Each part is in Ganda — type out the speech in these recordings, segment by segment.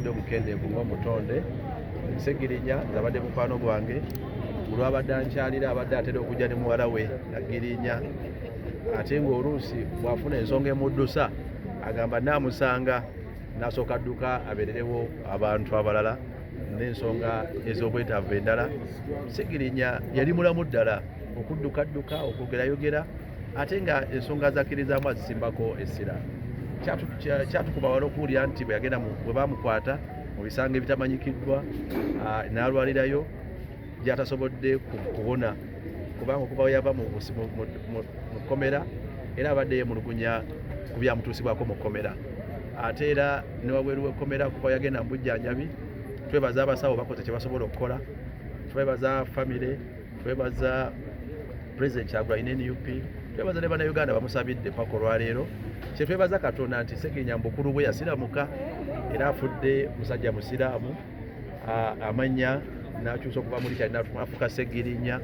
ndi omukendeevu ng'omutonde segirinya nze abadde mukwano gwange olwabadde ankyalira abadde atera okujja ne muwala we agirinya ate ng'oluusi bw'afuna ensonga emuddusa agamba naamusanga nasooka dduka abeererewo abantu abalala n'ensonga ez'obwetaavu endala segirinya yali mulamu ddala okuddukadduka okwogerayogera ate nga ensonga zakkirizaamu azisimbako essira kyatukuba wala okuwulira nti bwe yagenda bwe bamukwata mu bisango ebitamanyikiddwa ah, n'alwalirayo gyatasobodde kubona kubanga okuva we yava mu kkomera era abadde yemulugunya ku byamutuusibwako mu kkomera ate era ne wabweru w'ekkomera kuva yagenda mu bujjanjabi twebaza abasawo bakoze kye basobola okukola twebaza famire twebaza president kyagulanyi ne nup twebaza ne banauganda bamusabidde paka olwaleero kyetwebaza katonda nti segenya mubukulu bwe yasiramuka era afudde musajja musiraamu amanya nakyusa okuva muli kyali nafuka segirinya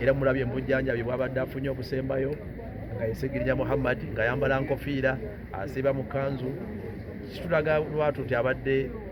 era mulabye mubujjanjabi bwabadde afunye okusembayo nga yesegirinya muhammad nga yambala nkofiira asiiba mu kanzu kitulaga lwatu nti abadde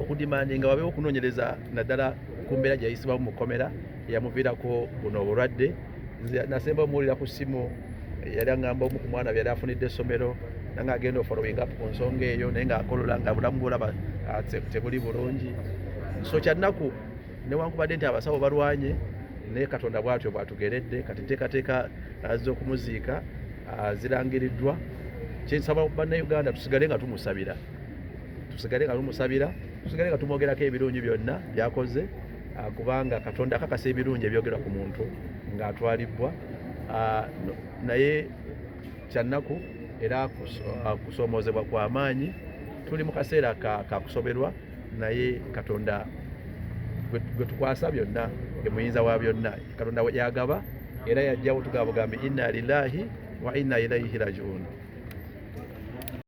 okudimandi nga wabeewo okunoonyereza naddala ku mbeera gye yayisibwamu mu kkomera eyamuviirako buno obulwadde nze nasemba omuwulira ku ssimu yali aŋamba omu ku mwana byeyali afunidde essomero nanga agenda ofollowing up ku nsonga eyo naye ngaakolola nga bulamu bwolaba ah, tebuli bulungi so kyannaku newankubadde nti abasawo balwanye naye katonda bwatyo bwatugeredde kati teekateeka ah, z'okumuziika ah, zirangiriddwa kyensaba bannayuganda tusigale nga tumusabira tusigale nga lumusabira tusigale nga tumwogerako ebirungi byonna byakoze ah, kubanga katonda akakasa ebirungi ebyogerwa ku muntu ng'atwalibbwa ah, naye kyannaku era ah, kusoomoozebwa kwa maanyi tuli mu kaseera kakusoberwa naye katonda gwe tukwasa byonna ye muyinza wa byonna katonda yagaba era yajjawo tugaba bugambi inna lillahi wa inna ilaihi rajiuni